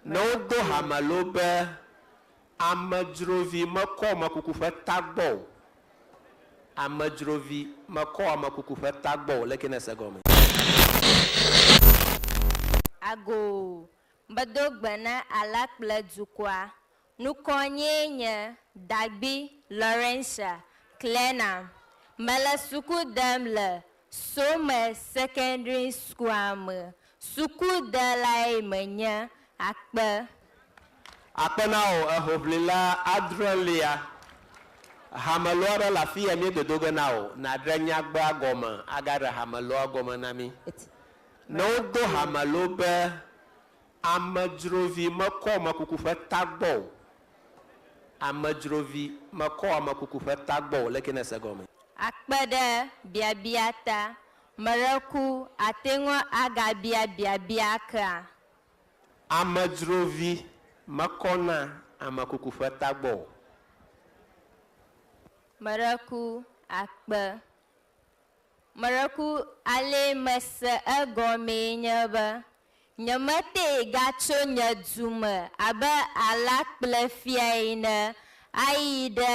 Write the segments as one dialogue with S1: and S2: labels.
S1: Ne wodo ha me loo be, Amedzrovi mekɔ mekuku ƒe tagbɔ o, amedzrovi mekɔ mekuku ƒe tagbɔ o, le ke nèse gɔme.
S2: Agoo, medo gbe na Allah kple dukɔa, Nukɔnyee nye Dagbi Laurencia Clena. Mele suku dem le Some Secondary School-a me. Sukudelae menye. Akpe.
S1: Akpe na wò, ehoʋlila adrelia. Hameloa ɖe le afii ya míedodo ge na wò, nàɖe nyagbea gɔme agaɖe hameloa gɔme na mí. Ne wodo hamelo be Amedzrovi mekɔ amekuku ƒe tagbɔ o. Amedzrovi mekɔ amekuku ƒe tagbɔ o. Leke nèse egɔmee? Akpe ɖe
S2: biabia ta, meɖe ku ate ŋu agabia biabia kea? Amedzrovi
S1: mekɔna amekuku ƒe tagbɔ o.
S2: Meɖe ku akpe Meɖeku ale mese egɔmee nye be, nyemetee gatso nye du me abe alakple fia ene ayi ɖe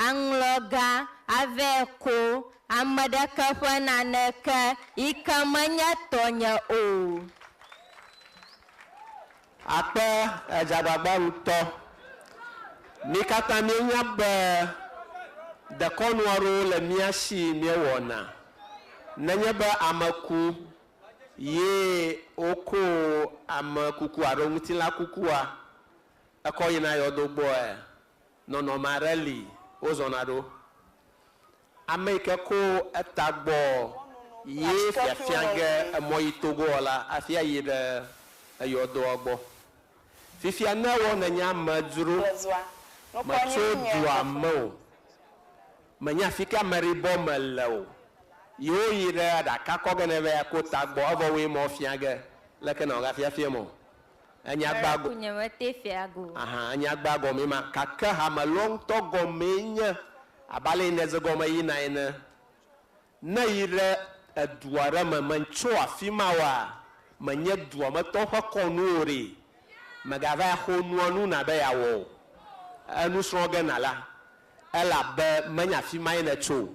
S2: aŋlɔ gã ave ko ame ɖeke ƒe naneke yi ke menye tɔnye o.
S1: Akpe edze agbagba ŋutɔ. Mí katã míenya be dekɔnu aɖewo le mía si míewɔna. Nenye be ame ku ye woko amekuku alo ŋutilã kukua, ekɔ yina yɔdo gbɔe, nɔnɔme aɖe li wozɔna ɖo. Ame yi ke ko eta gbɔ ye fiafia ge emɔ yi togoɔ la afi ayi ɖe eyɔ dɔa gbɔ. Fifia ne ewɔ ne nye amedzro me tso dua me o, me nya fike ameɖibɔ me le o, ye wo yi ɖe aɖaka kɔ ge ne va yi ko ta gbɔ, evɔ woe mɔ fia ge, leke na wo ga fiafia mɔ Enya gbaa gɔ. Ŋmɛrɛ ku nye me te fea go.
S2: Ahan, enya gbaa
S1: gɔmee ma. Gake hame lɔ ŋutɔ gɔmee nye abe ale yi nèze gɔme yina ene. Ne yi ɖe edu aɖe me, mètso afi ma oa, menye dua me tɔwo ƒe kɔnu o ɖee, mègava axo nua nu na be yeawɔ o. Enu srɔ̃ ge nàla. Elabe menye afi mae nètso o,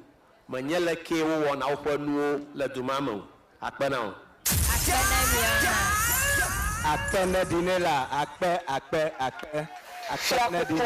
S1: menye le kee wowɔna woƒe nuwo le du ma me o. Akpe na wò. Akpe na mi hã. Akpe neɖi nɛ la. Akpe, akpe, akpe, akpe neɖi.